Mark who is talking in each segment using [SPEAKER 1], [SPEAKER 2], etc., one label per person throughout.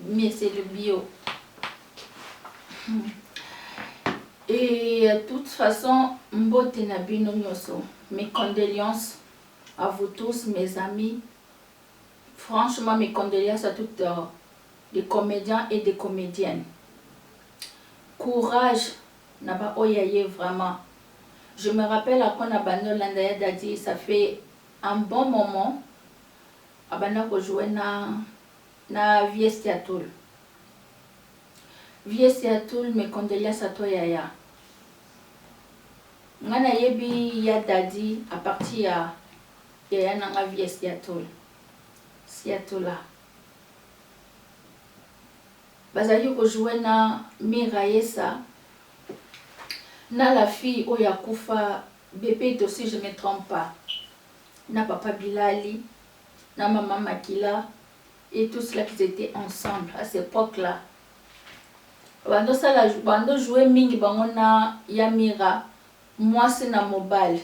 [SPEAKER 1] mais c'est le bio et toute façon mbote na bino nioso mes condoleances à vous tous mes amis franchement mes condoleances à toutes euh, des comediens et des comediennes courage na ba oyo aye vraiment je me rappelle après na bande olanda ya dadi ça fait un bon moment abanda ko jouer na Na vies ya toul. Vies ya toul mes condoleances à toi yaya nga na yebi ya daddy à partir ya yaya na nga vies ya toul siatoula bazalaki ko jouer na miraesa na la fille oyo akufa bebe dosi je me trompe pas na papa bilali na maman makila et tout cela qu'ils etaient ensemble à cette epoque là bando sala bando jouer mingi bango na ya mira mwasi na mobali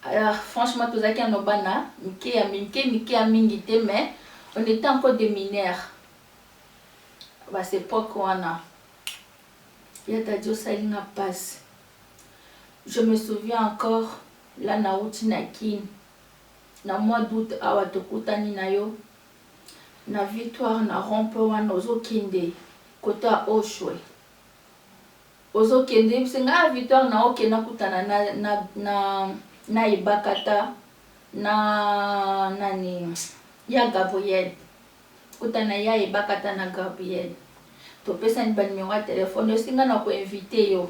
[SPEAKER 1] alors franchement tozalaki ano bana mike ya mike mike ya mingi te mais on était encore des mineurs ba cette epoque wana ya tadi osali nga pasi je me souviens encore là na wuti na kini na mois d'aout awa tokutani na yo na victoire na rond point wana ozo kende cote ya oshwe ozo kende yebisi nga ah, victoire na oke nakutana na, na, na, na ebakata na nani ya gabriel Kota na ya ebakata na Gabriel topesani ba numero ya telephone osi nga nako invite yo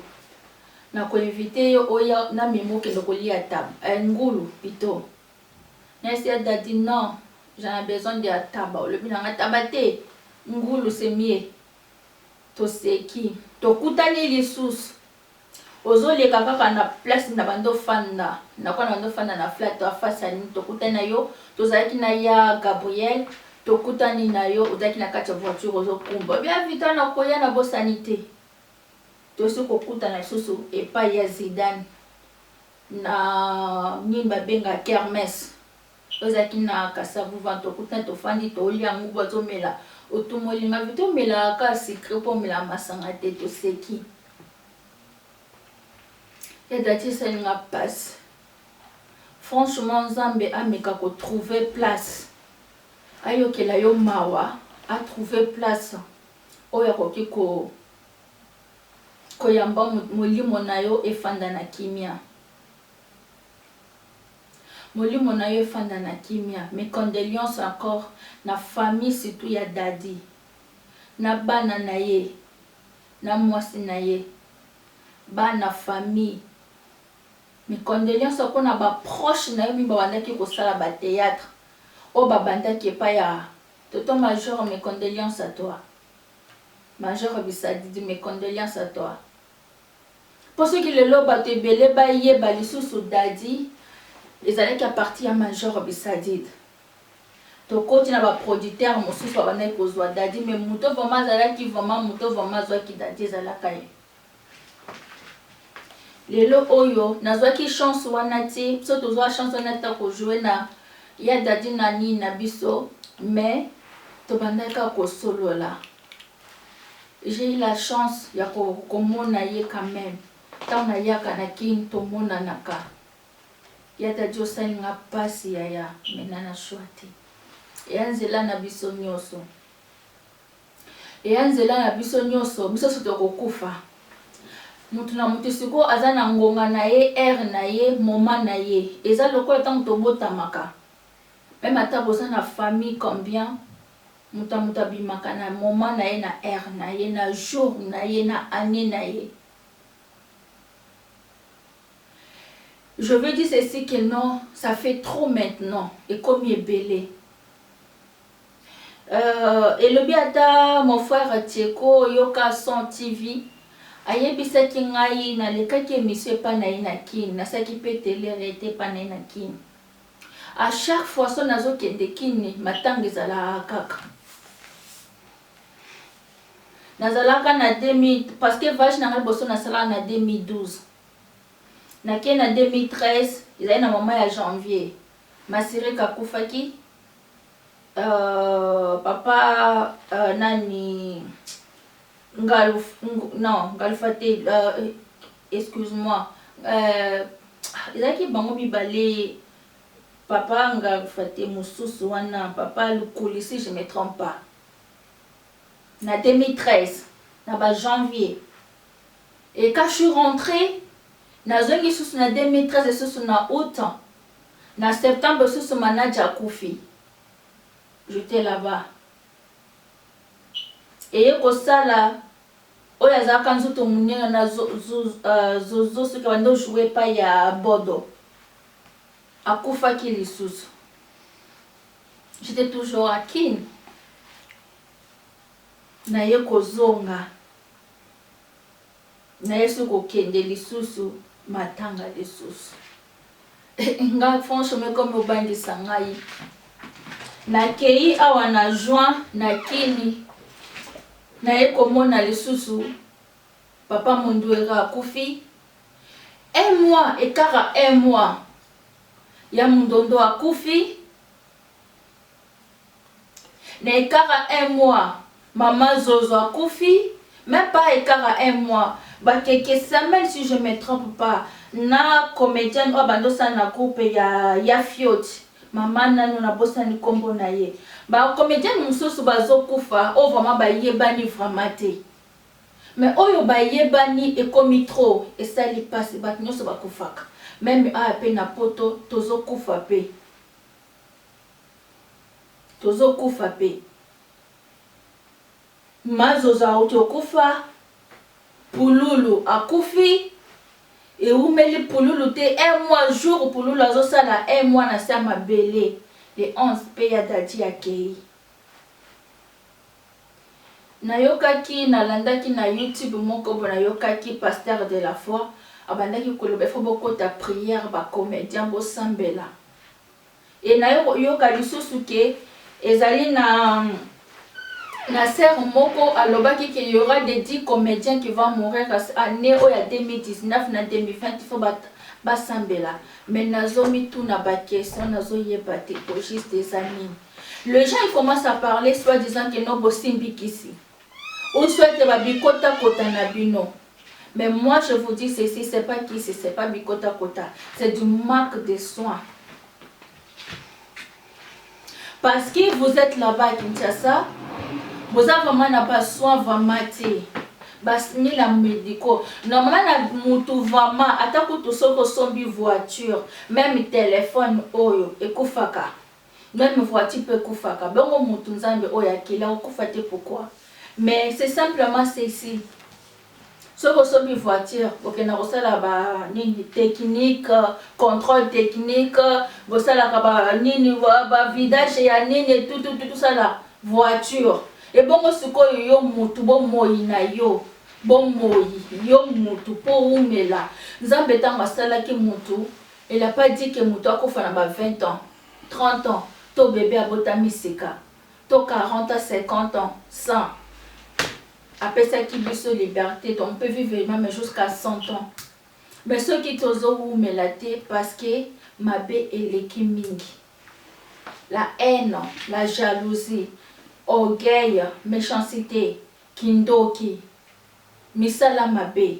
[SPEAKER 1] nako invite yo oya na mimi okende kolia taba eh ngulu pito na esi ya dady non j'en a besoin de ya taba olobi na nga taba te ngulu c'est mieux toseki tokutani lisusu Ozo leka kaka na place na banda ofanda nakuwa na banda ofanda na flat toi face ya nini tokutani na yo tozalaki na ya Gabriel tokutani na yo ozalaki na kati ya voiture ozo kumba obi ya Victoire na koya na bosani te tosi kokutana lisusu epayi ya Zidane na nini babenga kermesse Ozalaki na kasavu vent okuti na tofandi tolia ngubu azo mela otumoli nga vite omelaka kaka sucre po omelaka masanga te toseki ya daty esali nga pasi franchement nzambe ameka ko trouver place ayokela yo mawa a trouver place oyo akoki ko koyamba molimo na yo efanda na kimia Molimo nayo efanda na kimia mes condeleances encore na famille surtout ya Dady na bana naye na muasi naye bana famille mes condeleances po na ba proche nayo mingi babandaki kosala ba theatre oyo babandaki epai ya tonton major mes condeleances à toi major bisadidi mes condeleances à toi. Po soki lelo batu ebele ba yeba lisusu Dady ezalaki a partir ya major Bisadide to koti na ba producteur mosusu ba bandaki ko zua Dady mais moto vraiment azalaki vraiment moto vraiment azuaki Dady ezalaka ye lelo oyo na zuaki chance wana te biso to zua chance wana te ko jouer na ya Dady na nini na biso mais to bandaki kaka ko solola J'ai eu la chance ya ko komona ye quand meme tango na yaka na kin to monanaka ya daddy osali nga pasi yaya mais na na choix te eya nzela na biso nioso eya nzela na biso nioso biso so toko kufa mutu na mutu siko aza na ngonga na ye heure na ye moment na ye eza lokola tango tobotamaka meme ata boza na famille combien Moto na moto abimaka na moment na ye, na heure na ye, na jour na ye, na annee na ye. Je veux dire ceci que non, ça fait trop maintenant, ekomi ebele. Euh, elobi ata mon frère Tsheko Yoka Son TV, ayebisaki ngai nalekaki emission epa na ye na Kin, nasalaki pe tele rete epa na ye na Kin. A chaque fois soki nazo kende kin matanga ezalaka kaka nazalaka na 2000 parce que voyage na nga liboso nasalaka na 2012 nake na 2013 ezali na mama ya janvier masirika akufaki uh, papa uh, nani Ngaluf ng non ngalufa te euh excuse moi euh ezalaki bango mibale papa ngalufa te mosusu wana papa lukuli si je me trompe pas na 2013 na ba janvier et quand je suis rentre nazongi lisusu na 2013 lisusu na aout na septembre lisusu manager akufi j'etais là-bas eye kosala oyo azalaka nzoto munene na zozo soki abandi o jouer epayi ya bodo akufaki lisusu j'etais toujours à kin naye kozonga na yesu kokende lisusu matanga lisusu nga franchement ekomi obangisa ngai nakei awa na juin na kini naye komona lisusu papa munduera akufi un mois ekara un mois ya mundondo akufi Na ekara un mois mama zozo akufi meme pas ekara un mois ba keke semaine si je me trompe pas na comedienne oyo abandi osala na groupe ya ya fiote mama nanu na bosani kombo na ye ba comedienne mususu bazo kufa oyo vraiment ba yebani vraiment te mais oyo ba yebani ekomi trop esali pasi batu nionso ba kufaka meme awa pe na poto tozo kufa pe Tozo kufa pe. Ma zozo awuti okufa, pululu akufi, ewumeli pululu te un mois jour pululu azo sala un mois na se ya mabele le 11 pe ya daddy akeyi. Nayokaki nalandaki na YouTube moko bo nayokaki pasteur de la foi abandaki koloba il faut bokota prière ba comediens bosambela et naye koyoka lisusu ke ezali na na sœur moko alobaki ke y'aura de 10 comediens qui va mourir annee oyo ya 2019 na 2020 il faut ba basambela mais nazomituna ba question nazoyeba te au juste eza nini. Le gens il commence à parler soit disant que non bosimbi kisi ou soit ba bikota kota na bino mais moi je vous dis ceci c'est pas kisi c'est pas bikota kota c'est du manque de soins parce que vous êtes là-bas à Kinshasa boza vraiment na ba soins vraiment te basmila medico normalement na mutu vraiment ata kutu soki osombi voiture meme telefone oyo ekufaka Meme voiture pe ekufaka bongo mutu nzambe oyo akeli akokufa te pourquoi? Mais c'est simplement ceci soki osombi voiture bokenda kosala ba nini technique controle technique bosalaka ba nini ba vidage ya nini etutututu sala voiture ebongo sikoyo yo mutu bomoyi na yo bomoyi yo mutu po umela nzambe ntango asalaki mutu Elle a pas dit que mutu akufa na ba 20 ans, 30 ans to bebe abotami sika to 40 ans, 50 ans, 100 apesaki biso liberte on peut vivre meme jusqu'à 100 ans mais soki tozo wumela te parce que mabe eleki mingi la haine, la jalousie, orgueil, mechancite, kindoki, misala mabe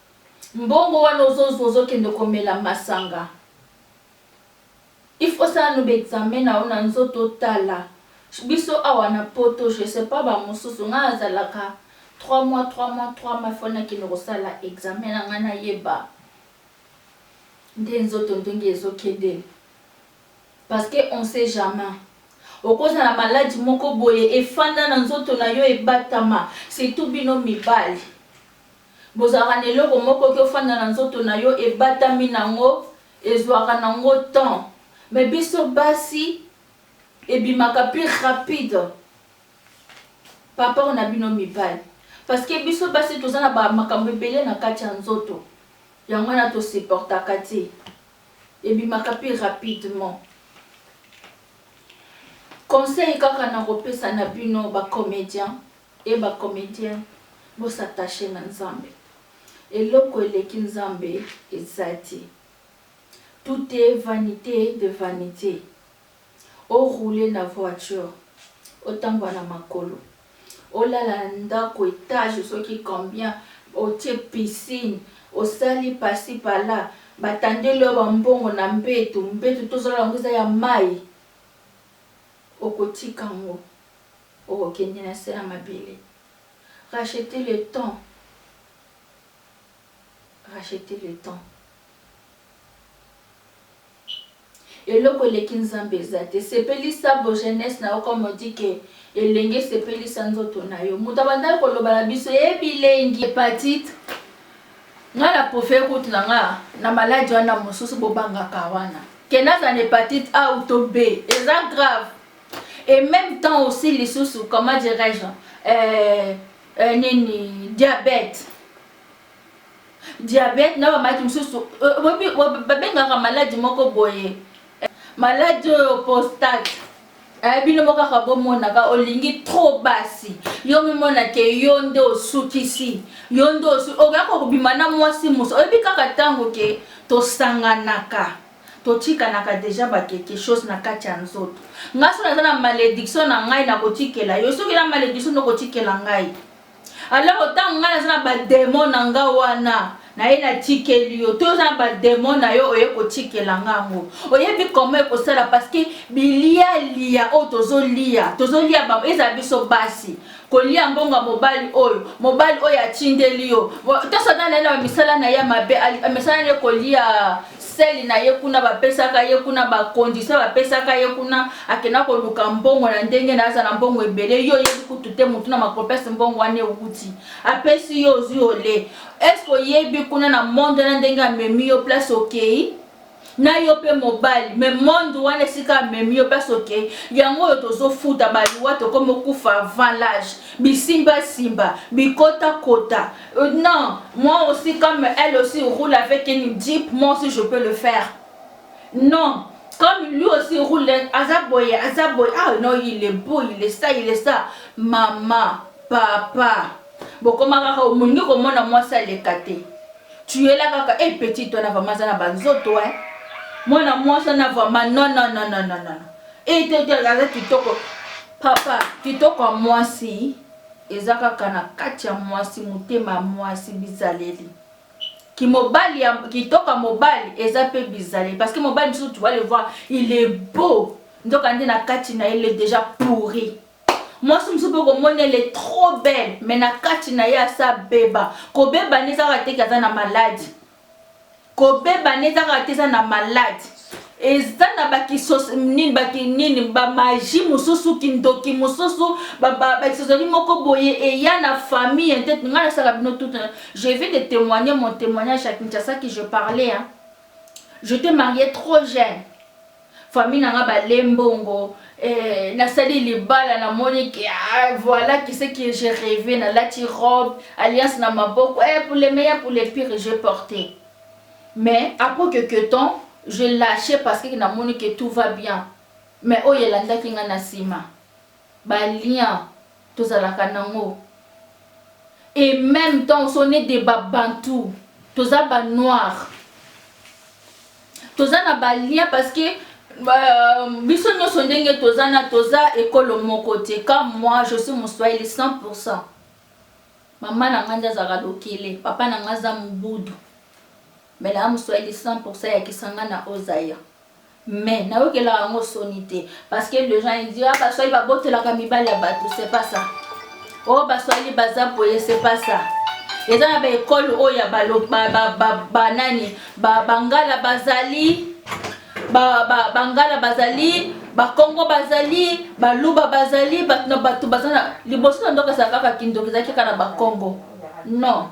[SPEAKER 1] Mbongo wana ozo zua ozo kende ko mela masanga il faut osala nanu ba examen na yo na nzoto otala biso awa na poto je sais pas ba mususu nga na zalaka trois mois trois mois trois mois il faut na kende ko sala examen na nga na yeba nde nzoto ndenge ezo kende parce que on sait jamais oko zala malade moko boye efanda na nzoto na yo ebatama surtout bino mibali Bozalaka na eloko moko ki ofanda na nzoto na yo ebatami na ngo ezuaka na ngo temps mais biso basi ebimaka plus rapide parport na bino mibali parce que biso basi toza na ba makambo ebele na kati ya nzoto yango wana to supportaka te ebimaka plus rapidement conseil kaka na kopesa na bino ba comediens Hee ba comediens bo s'attacher na nzambe eloko eleki nzambe eza te tout est vanite de vanite o rouler na voiture otambua na makolo olala na ndaku etage soki combien otie piscine osali pasi pala ba tandeli yo ba mbongo na mbetu mbetu tozolala yango eza ya mayi okotika yango. Oko kende na se ya mabele. Racheter le temps racheter le temps eloko eleki nzambe eza te sepelisa bo jeunesse na yo comme on dit que elenge sepelisa nzoto na yo moto abandaki koloba na biso ye eh, bilengi hepatite nga na profere kutu na nga na maladi wana mosusu bobangaka wana ke nazala na hepatite a ou to b eza grave et meme temps aussi lisusu comment dirais-je euh, euh, nini diabète diabète na bamaladi mosusu euh, babengaka maladi moko boye maladi oyo postate eh, bino moko kaka bomonaka olingi trop basi yo mimona ke yo nde osukisi yo nde okoya kokobima na mwasi mosu oyebi kaka ntango ke tosanganaka Totikanaka dejà ba quelque chose na kati ya nzoto. Nga soki naza na malediction na ngai na kotikela yo soki na malediction nde okotikela ngai. Alors tango nga naza na ba demon na nga wana naye natikeli yo to oza na ba demon na yo oye kotikela nga yango. Oyebi comment ekosala parce que bilia lia oyo tozolia tozolia ba ezala biso basi kolia mbongo ya mobali oyo mobali oyo atindeli yo tosa na naye na bamisala na ye ya mabe misala na ye kolia seli na ye kuna bapesaka ye kuna bakondisio bapesaka ye kuna akenda koluka mbongo na ndenge na aza na mbongo ebele yo oyebi kutu te motu na makopese mbongo wana ewuti apesi yo ozwi ole eske oyebi kuna na monde na ndenge amemi yo place okei na yo pe mobali mais monde wana esika amemi yo place okei yango oyo tozofuta baliwa tokomi okufa avant l'age bisimbasimba bikotakota euh, non moi aussi comme elle aussi roule avec une jeep moi aussi je peux le faire non comme lui aussi roule aza boye aza boye ah non il est beau il est ça il est ça mama papa bokomaka olingi komona mwasi aleka te Tuela kaka eh petite wana vraiment aza na ba nzoto hein. Mwana mwasi wana vraiment non non non non non non. Eh te te aza kitoko. Papa, kitoko ya mwasi eza kaka na kati ya mwasi, motema ya mwasi, bizaleli. Kimobali ya kitoko ya mobali eza pe bizaleli parce que mobali mosusu tu vas le voir, il est beau. Nzoka nde na kati na ye il est déjà pourri. mwasi mosusu mpe okomona ele trop belle me na kati na ye asa beba kobeba nde ezaka teke aza na maladi kobeba nde ezaka te eza na maladi eza na bakisosinini baki nini bamaji mosusu kindoki mosusu bakisosoli moko boye eya na famille te ngai nasala bino tout je vais de témoigner mon témoignage ya kinshasa ki je parlais hein. je te marie trop jeune Famille na nga ba le mbongo eh, na sali libala na moni que ah, voilà que ce que j'ai rêvé na lati robe alliance na maboko eh, pour le meilleur pour le pire j'ai porté mais après quelques temps je lâché parce que na moni que tout va bien mais oyo elandaki nga na sima Ba liens tozalaka nango et meme temps ce on est de ba bantou toza ba noir toza na ba liens parce que biso nioso ndenge toza na toza ekolo moko te comme moi je suis moswahili 100 pourcent mama na nga nde azalaka lokele papa na nga aza mobudu Mais na amu swahili 100 pourcent ya kisangana au Zaïre mais na yokelaka yango soni te parce que les gens ils disent ah ba swahili ba botelaka mibali ya batu c'est pas ça oh ba swahili baza boye c'est pas ça eza na ba école oyo ya ba ba ba ba, ba nani ba bangala bazali ba ba bangala bazali bakongo bazali baluba bazali bato na bato baza na liboso na ndoka ezala kaka kindoki ezalaki kaka na bakongo non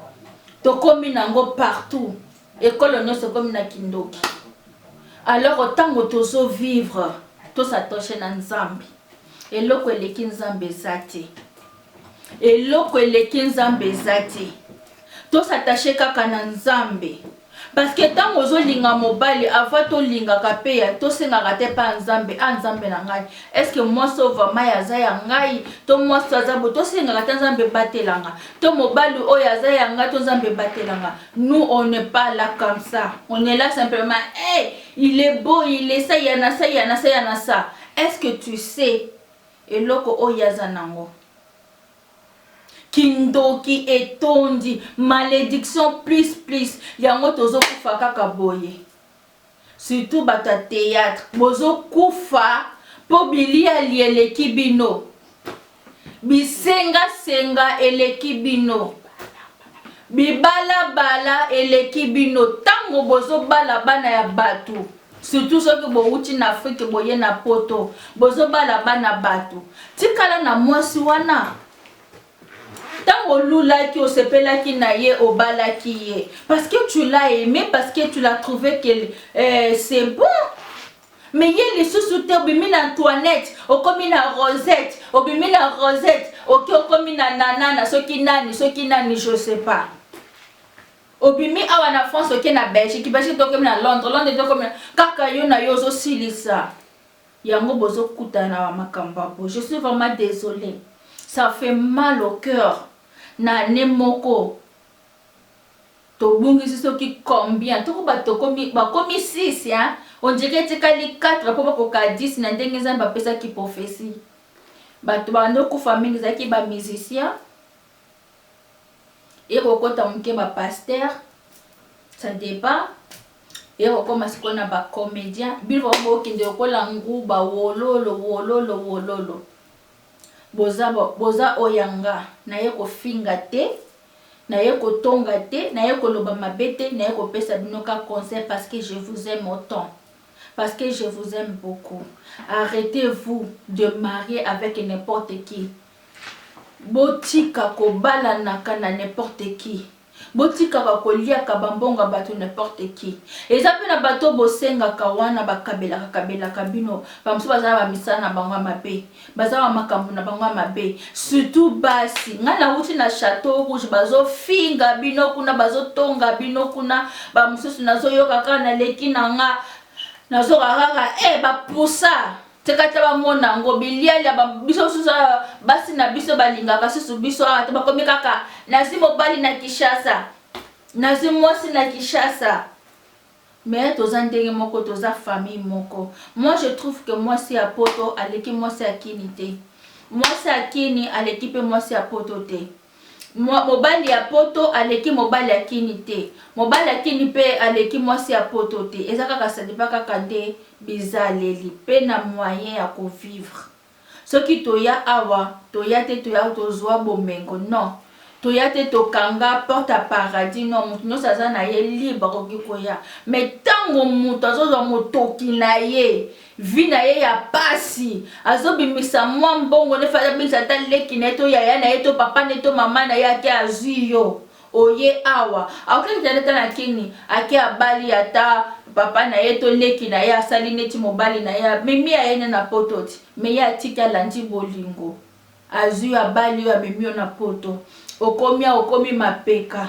[SPEAKER 1] Tokomi nango partout ekolo nionso ekomi na kindoki alors tango tozo vivre to s'attacher na nzambe eloko eleki nzambe eza te eloko eleki nzambe eza te to s'attacher kaka na nzambe parce que ntango ozolinga mobali ava tolingaka mpe ya tosengaka te mpa nzambe a nzambe na ngai estce mwasi oyo vraimen aza ya ngai to mwasi aza bo tosengaka te nzambe batelanga to mobali oyo aza ya nga to nzambe batela nga nous on ne pas là comme ça on est là simplement hey, eh, il est beau il est ça yana ça yana ça yana ça est ce que tu sais eloko oyo aza nango kindoki etondi malédiction plus plus yango tozokufa kaka boye Surtout batu ya theatre bozo kufa po biliali eleki bino bisenga senga eleki bino bibala bala eleki bino tango bozo bala bana ya batu surtout soki bowuti na afrique boye na poto bozo bala bana batu tikala na mwasi wana Tango olulaki osepelaki na ye obalaki ye parce que tu l'as aime parce que tu l'as trouvé que euh, c'est bon mais ye lisusu te obimi na Antoinette okomi na Rosette obimi na Rosette oki okomi na nanana soki nani soki nani je sais pas obimi awa na France oke na Belgique Belgique tokomi na Londres Londres tokomi kaka yo na yo ozosilisa Yango bozo kutana na ba makambo ya boye je suis vraiment desole ça fait mal au cœur na annee moko tobungisi soki combien toko ba tokomi bakomi 6 hein on dirait etikali 4 po bakoka 10 na ndenge Nzambe apesaki prophetie bato bando kufa mingi ezalaki ba musiciens Eko kota muke ba pasteur ça depend eko koma sikoyo na ba comedien bino vraiment bokende lokola nguba wololo wololo wololo boza boza oyanga naye kofinga te naye kotonga te naye koloba mabe te naye kopesa bino ka conseil parce que je vous aime autant parce que je vous aime beaucoup arrêtez vous de marier avec n'importe qui Botika kobalanaka na n'importe qui. Botikaka koliaka ba mbongo ya batu n'importe qui. Eza pe na batu oyo bosengaka wana bakabelaka kabelaka bino. Ba mosusu baza na ba misala na bango ya mabe. Baza na ba makambu na bango ya mabe. Surtout basi. Ngai nawuti na chateau rouge bazo finga bino kuna bazo tonga bino kuna. Ba mosusu nazo yoka kaka na leki na nga. Nazo yoka kaka eh ba poussa. Tika te bamona yango bilialia ba, biso susu awa basi na biso balingaka susu biso awa te, bakomi kaka nazwi mobali na Kinshasa, nazwi mwasi na Kinshasa. Mais toza ndenge moko, toza famille moko. Moi je trouve que mwasi ya poto aleki mwasi ya Kini te, mwasi ya Kini aleki pe mwasi ya poto te. Mobali ya poto aleki mobali ya kin te mobali ya kin pe aleki mwasi ya poto te eza kaka sadipa kaka nde bizaleli pe na moyen ya ko vivre soki toya awa toya te toya tozua bomengo non toya te tokanga porte ya paradis non mutu nionso aza na ye libre akoki koya mais tango mutu azozua motoki na ye vie na ye ya pasi azo bimisa mwa mbongo ne fallait abengisa ata leki na ye to yaya na ye to papa ne to mama na ye ake azui yo oye awa akoki akita nde ata na kini ake abali ata papa na ye to leki na ye asali neti mobali na ye amemi ya ye ne na poto ti me ye atiki alandi bolingo azui yo abali yo amemi yo na poto okomi awa okomi mapeka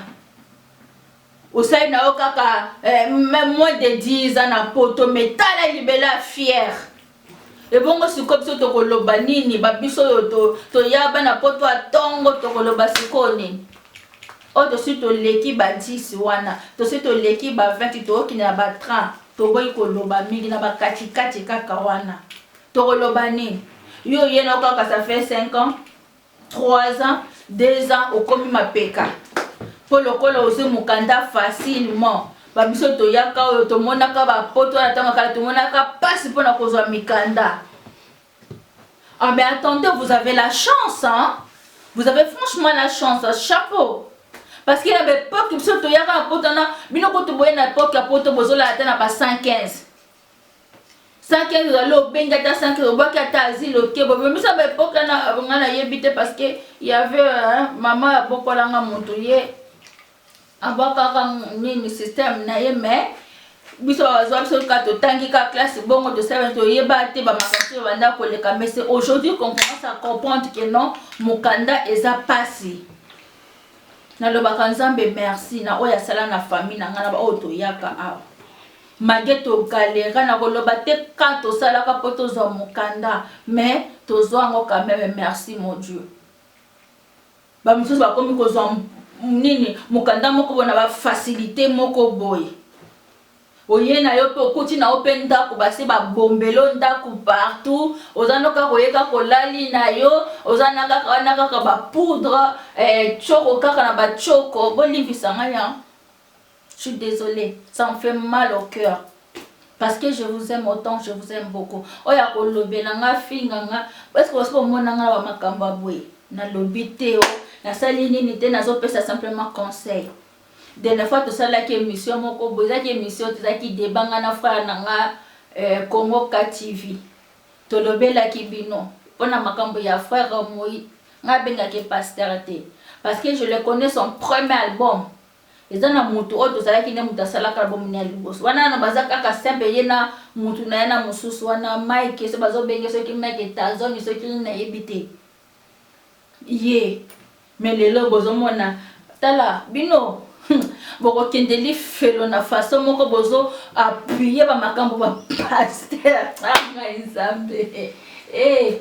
[SPEAKER 1] Osali na yo kaka eh, moins de 10 ans na poto mais tala libela fière ebongo sikoyo biso tokoloba nini babiso oyo toya to bana poto ya tongo tokoloba sikoyo nini oyo oh, tosi toleki ba 10 wana tosi toleki ba 20 tookende na ba 30 toboyi koloba mingi na bakatikati kaka wana tokoloba nini yo oye na kaka ça fait 5 ans Trois ans, deux ans okomi mapeka po lokola ozwi mokanda facilement ba biso toyaka oyo tomonaka ba poto wana ntango kala tomonaka mpasi mpo na kozwa mikanda ah mais attendez vous avez la chance hein? vous avez franchement la chance chapeau parce que na baepoke biso toyaka na poto wana bino kutu boye na epoke ya poto bozolala ata na ba 115 100 kilo ezali obengi ata 100 kilo obwaki ata asile oke bobimisa ba epoke wana ngai nayebi te parce que yave mama ya bokolanga moto ye abwakaka nini système na ye mais biso bazwa biso kaka totangi kaka classe bongo tosala toyeba te bamakambo oyo banda koleka mais c'est aujourd'hui qu'on commence à comprendre que non mokanda eza pasi nalobaka nzambe merci na oyo asala na famille na ngai na baoyo toyaka awa Mage to galera na koloba te ka tosalaka po tozwa mokanda mais tozwa yango quand meme merci mon Dieu ba mosusu bakomi kozwa nini mokanda moko bona ba facilité moko boye oye na yo mpe okuti na yo mpe ndako basi babombelo ndako partout oza no kaka oye kaka olali na yo oza na kaka wana kaka bapoudre eh, coko kaka na bacoko bolimbisa ngai yango Je suis desole ça me fait mal au cœur parce que je vous aime autant je vous aime beaucoup oyo akolobela nga afinga nga est ce que osi omona nga na bamakambo ya boye nalobi te o nasali nini te nazopesa simplement conseil dernière fois tosalaki émission moko boye ezaki émission tozalaki deba nga na frère na nga euh, congo ka tv tolobelaki bino mpo na makambo ya frère moi nga abengaki pasteur te parce que je le connais son premier album Eza na mutu oyo tozalaki nde mutu asalaka album ne ya liboso wana nano baza kaka simple ye na mutu naye na mususu wana Mike soki bazo benge soki Mike Tazoni soki nini nayebi te ye mais lelo bozo mona tala bino boko kende lifelo na façon moko bozo appuyer ba makambo ba pasteur ah ngai nzambe eh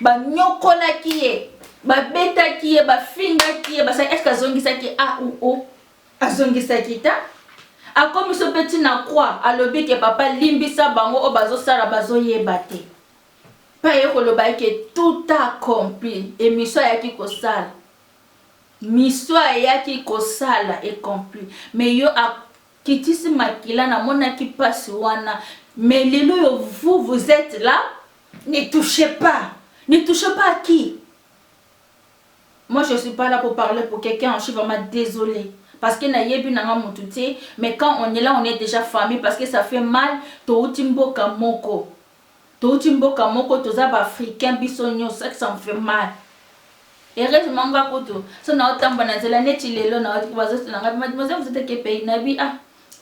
[SPEAKER 1] Banyokolaki ye, babetaki ye, bafingaki ye, basali eske azongisaki a ou o? Azongisaki ta. Akomiso mpe ti na croix, alobi ke papa limbisa bango oyo bazosala bazoyeba te. Mpe aye koloba eke tout accompli, emission ayaki kosala. Mission ayaki kosala ecompli. Mais yo kitisi makila na monaki pasi wana mais lelo yo vous vous etes la ne touche pas ne touche pas à qui moi je suis pas là pour parler pour quelqu'un je suis vraiment désolé parce que na yebi nanga mutu te mais quand on est là on est déjà famille parce que ça fait mal touti mboka moko Touti mboka moko toza ba africain biso nioso ça ça me fait mal heureusement nga kutu so nao tambwa na nzela neti lelo nao tiko bazo tuna nga mademoiselle vous êtes quel pays na bi ah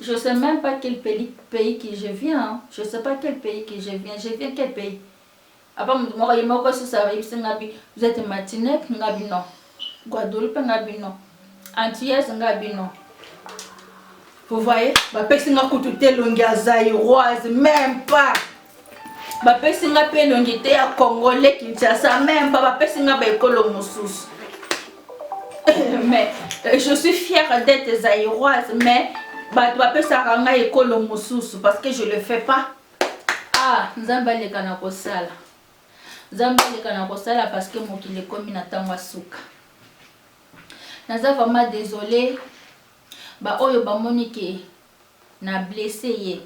[SPEAKER 1] je sais même pas quel pays pays qui je viens je sais pas quel pays qui je viens je viens quel pays apa mutu moko ye moko susa yebisi nga bi vous êtes martinique nga bi non Guadeloupe nga bino antillaise nga bino vous voyez bapesi nga kutu te elongi ya zairoise même pas bapesi nga mpe elongi te ya congolais kinshasa même pas bapesi nga baekolo mosusu mais euh, je suis fière d'être zairoise mais bato bapesaka nga ekolo mosusu parce que je le fais pas ah nzambe aleka na kosala Nzambe aleka na kosala parce que mokili ekomi na tango ya suka. Naza vraiment desole ba oyo bamoni ke na blesse ye.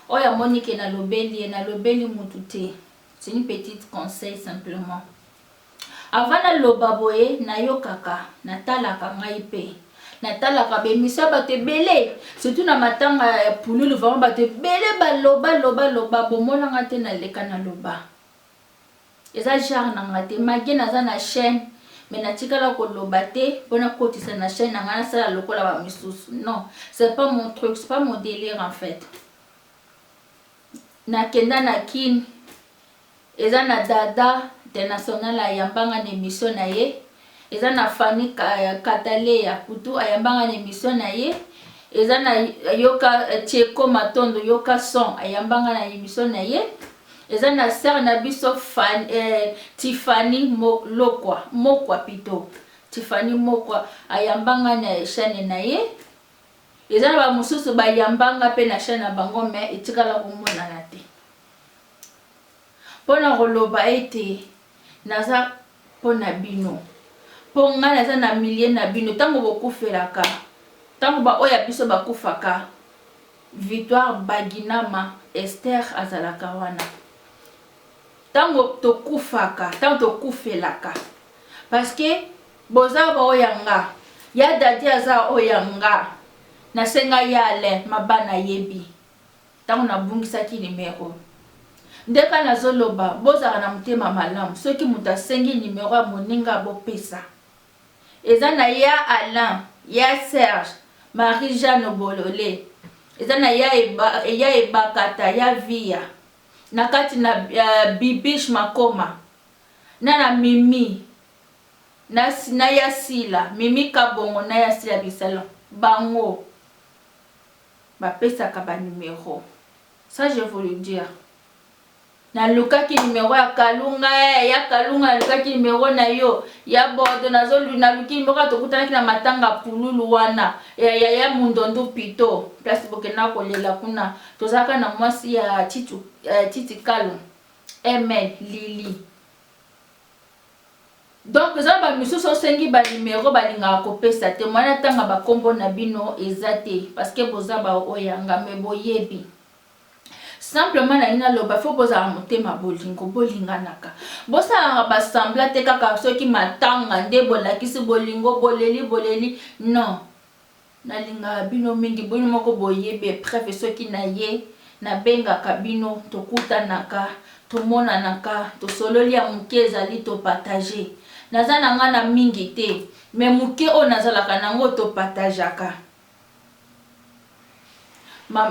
[SPEAKER 1] Oyo amoni ke nalobeli ye, nalobeli mutu te. C'est une petite conseil simplement. Avant na loba boye na yokaka na talaka ngai pe na talaka ba emission ya batu ebele surtout na matanga ya pululu vraiment batu ebele ba loba loba loba bo mona nga te na leka na loba eza genre na nga te magie naza na chaine mais na tikala ko loba te po na kotisa na chaine na nga na sala lokola ba misusu non c'est pas mon truc c'est pas mon délire en fait na kenda na kin Eza na Dada international ayamba nga na emission na ye, eza na Fanny Kataleya kutu ayamba nga na emission na ye, eza na yoka Tsheko Matondo yoka son ayamba nga na emission na ye, eza na sœur na biso Fanny, eh, Tiffany Lokwa, Mokwa pito, Tiffany Mokwa ayamba nga na chaîne na ye, eza na ba mosusu bayamba nga pe na chaîne na bango mais etikala komonana te. Mpo na koloba ete naza mpo na bino, mpo ngai naza na milieu na bino tango bokufelaka, tango ba oyo ya biso bakufaka, Victoire Baginama Esther azalaka wana. Tango tokufaka, tango tokufelaka, parce que boza ba oyo ya nga, ya Daddy aza oyo ya nga, nasenga ya Alain Maba nayebi. Tango na bungisaki numero. Nde kaka nazo loba bozalaka na motema malamu soki mutu asengi numero ya moninga bo pesa. Eza na ya Alain, ya Serge, Marie Jeanne bolole, eza na ya ya Ebakata, ya Viya, na kati na Bibiche Makoma, na na Mimi, na na ya Sila, Mimi Kabongo na ya Sila Bisalu. Bango. Ba pesaka ba numero ça je vous le dire na lukaki numero ya kalunga eh ya kalunga na lukaki numero na yo ya bordo na zo na luki numero ya tokutanaki na matanga pululu wana ya ya ya mundondu pito place bokenda ko lela kuna tozalaka na mwasi ya titu eh, titi kalu amen lili Donc eza na ba misusu osengi ba numero balingaka kopesa te moyen atanga ba kombo na bino eza te parce que boza ba oyanga mais boyebi simplement nalingi naloba faut bozala motema bolingo bolinganaka bosalaka ba semblant te kaka soki matanga nde bolakisi bolingo boleli boleli non Nalingaka bino mingi bino moko boyebi epreuve soki naye nabengaka bino tokutanaka tomonanaka tosololi ya muke ezali to partager naza na nga na mingi te mais muke oyo nazalaka na ngo to partagaka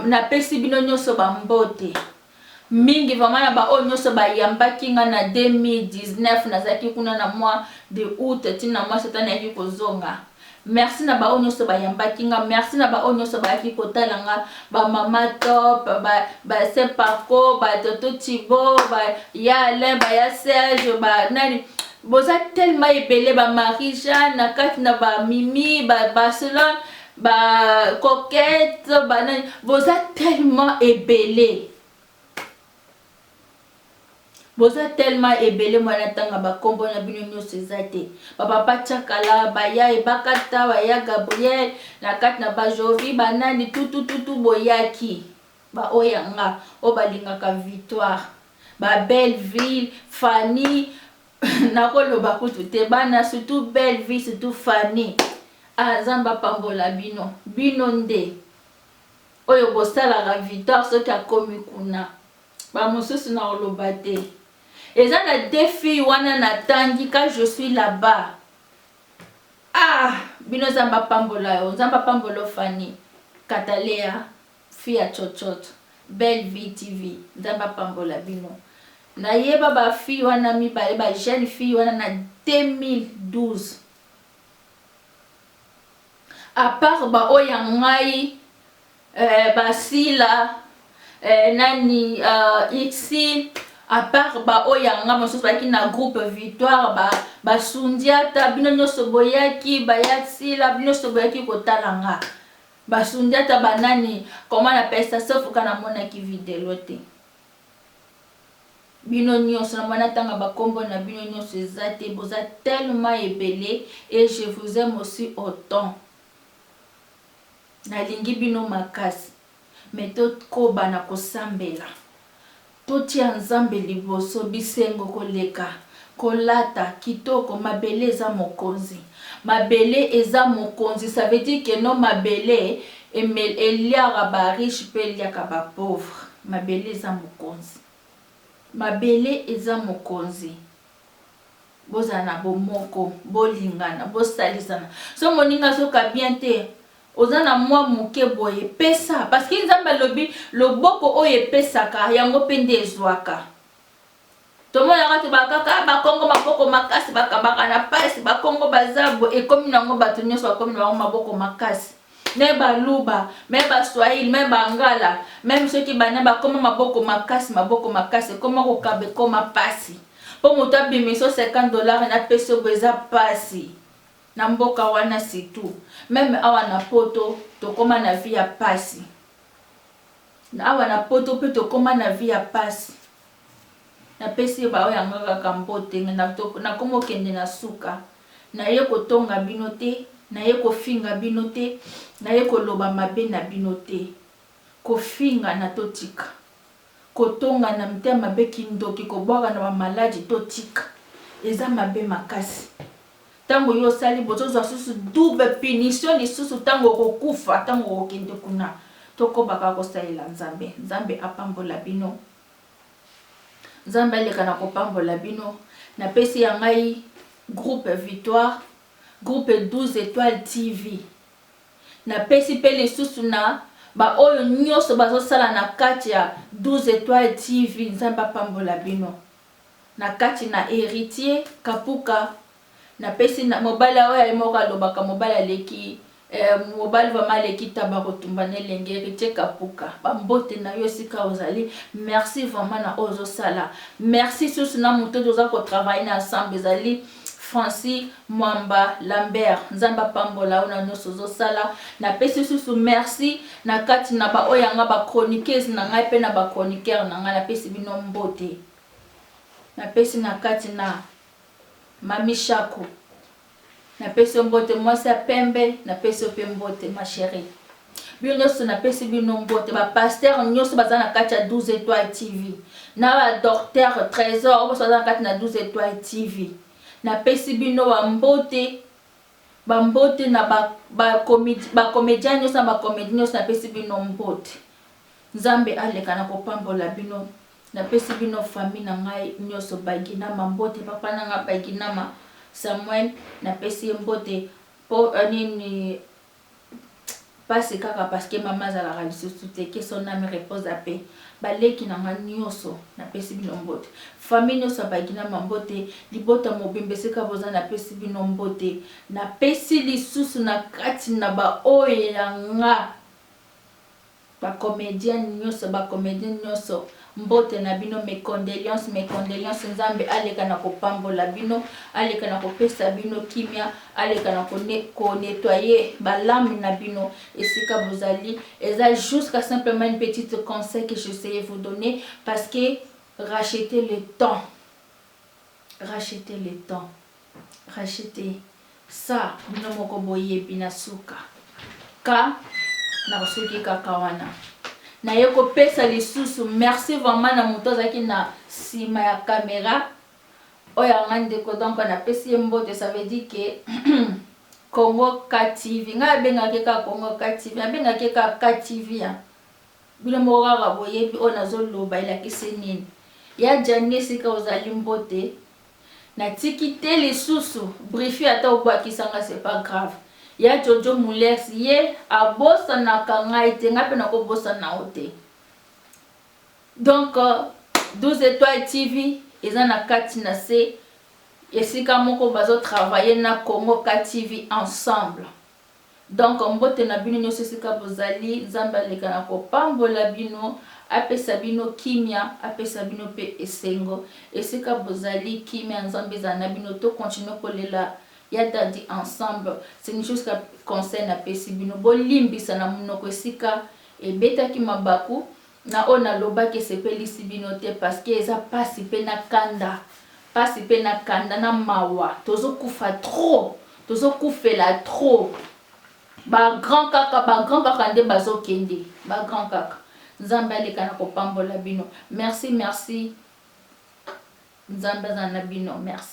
[SPEAKER 1] napesi bino nioso ba mbote. mingi vraiment na ba oyo nioso ba yambaki nga na 2019 nazalaki kuna na mois de aout ti na mois septembre nayaki kozonga merci na ba oyo nioso ba yambaki nga merci na ba oyo nioso bayaki kotala nga ba mama top ba ba saint paco ba toto tibo ba ya alain ba ya serge ba nani boza tellement ebele ba marie jeanne na kati na ba mimi ba barcelone ba coquette banani boza tellement ebele boza tellement ebele mwana ntanga bakombo na bino nyonso eza te bapapa chakala baya ebakata baya gabriel na kati na bajovi banani tutututu boyaki baoyo yanga oyo balingaka victoire babelle ville fanny nako loba kutu te bana surtout belle vie surtout Fanny ah nzambe apambola bino bino nde oyo bosalaka victoire soki akomi kuna bamosusu na koloba te eza na deux filles wana natangi ka je suis là-bas ah bino nzambe apambola yo nzambe apambola yo fani katalea Fia cocotte belle vie TV nzambe apambola bino nayeba ba fille wana mibale ba jeune fille wana na 2012 a part ba oyo ya ngai eh, ba sila eh, nani uh, ixi a part ba oyo ya ngai mosusu bayaki na groupe victoire ba basundiata bino nyonso boyaki bayasila bino nyonso boyaki kotala nga Ba sundiata ba nani comment na pesa sauf ka na monaki videlo te bino nioso na mona tanga ba kombo na bino nioso eza te boza tellement ebele et je vous aime aussi autant na lingi bino makasi mais to koba na ko sambela Totia Nzambe liboso bisengo koleka kolata kitoko mabele eza mokonzi mabele eza mokonzi ça veut dire que non mabele emel eliaka ba riche pe eliaka ba pauvre mabele eza mokonzi mabele eza mokonzi. Bozala na bomoko, bolingana, bosalisana. Soki moninga azoka bien te, oza na mwa moke boye, pesa. Parce que Nzambe alobi, loboko oyo epesaka, yango mpe nde ezwaka. Tomonaka te ba kaka, ah, ba Kongo maboko makasi, bakabaka na pasi, ba Kongo baza boye, ekomi na yango bato nyonso bakomi na bango maboko makasi. meme ba luba, meme ba swahili, meme ba ngala, meme soki ba nani bakoma maboko makasi, maboko makasi ekoma kokaba ekoma pasi po moto abimisa yo 50 dollars na pesi yo boye eza pasi na mboka wana surtout meme awa na poto tokoma na vie ya pasi awa na poto pe tokoma na vie ya pasi napesi ye baoyo yanga kaka mbote nakoma okende na suka Naye kotonga bino te, naye kofinga bino te, naye koloba mabe na bino te. Kofinga na totika. Kotonga na mitema mabe kindoki kobwaka na ba maladi totika. Eza mabe makasi. Tango yo osali bozo zwa susu double punition lisusu tango okokufa tango okokende kuna. Tokoba kaka kosalela Nzambe. Nzambe apambola bino. Nzambe aleka na kopambola bino na pesi ya ngai groupe victoire groupe 12 etoile TV na pesi pe lisusu na ba oyo nyoso bazosala na kati ya 12 etoile TV nzambe apambola bino na kati na heritier kapuka Na pesi na mobali ya oyo ye moko alobaka mobali aleki eh mobali vraiment aleki taba kotumba na elenge heritier kapuka ba mbote na yo esika ozali merci vraiment na oyo ozo sala merci susu na moto toza ko travailler na ensemble ezali Franci Mwamba Lambert nzambe apambola yo na nionso ozo sala na pesi susu merci na kati na ba oyo ya nga ba chroniqueuse na ngai pe na ba chroniqueur na ngai na pesi bino mbote na pesi na kati na Mamy Shako na pesi yo mbote mwasi ya pembe na pesi yo pe mbote ma cherie bino nioso na pesi bino mbote ba pasteur nioso baza na kati ya 12 etoile TV na ba docteur tresor boso baza na kati na 12 etoile TV na pesi bino ba mbote ba mbote na ba ba comedie ba comedien nioso na ba comedie nioso na pesi bino mbote nzambe aleka na kopambola bino Na pesi bino famille na ngai nioso baginama mbote papa na nga baginama Samuel na pesi ye mbote po nini pasi kaka parce que maman azalaka lisusu te que son ame repose à paix ba leki na nga nioso na pesi bino mbote famille nioso ya baginama mbote libota mobimba esika boza na pesi bino mbote na pesi lisusu na kati na ba oyo ya nga Ba comediens nioso ba comediens nioso mbote na bino mes condoleances mes condoleances nzambe aleka na ko pambola bino aleka na ko pesa bino kimia aleka na ko ne ko netoyer ba lames na bino esika bozali eza jusqu'à simplement une petite conseil que j'essaye vous donner parce que racheter le temps racheter le temps Rachete sa bino moko boyebi na suka ka nakosuki kaka wana naye kopesa lisusu merci vraiment na moto azalaki na sima ya camera oyo anga ndeko donc napesi ye mbote ça veut dire que Congo KTV ngai abengaki kaka Congo KTV abengaki kaka KTV ya bino moko kaka boyebi oyo nazoloba elakisi nini ya jani esika ozali mbote Na tiki te lisusu brifi ata obakisa nga c'est pas grave ya jojo mulex ye abosanaka ngai te ngai pe nako bosana yo te donc 12 etoiles TV eza na kati na se esika moko bazo travailler na Congo KTV ensemble. Donc mbote na bino nioso esika bozali nzambe aleka na kopambola bino apesa bino kimia apesa bino pe esengo esika bozali kimia ya nzambe ezala na bino to continue kolela ya dady ensemble c'est une chose conseil na pesi bino bolimbisa na munoko esika ebetaki mabaku Na oyo na lobaki esepelisi bino te parce que eza pasi pe na kanda pasi pe na kanda na mawa tozo kufa trop tozo kufela trop ba grand kaka ba grand kaka nde bazo kende ba grand kaka nzambe aleka na kopambola bino merci merci nzambe azala na bino merci.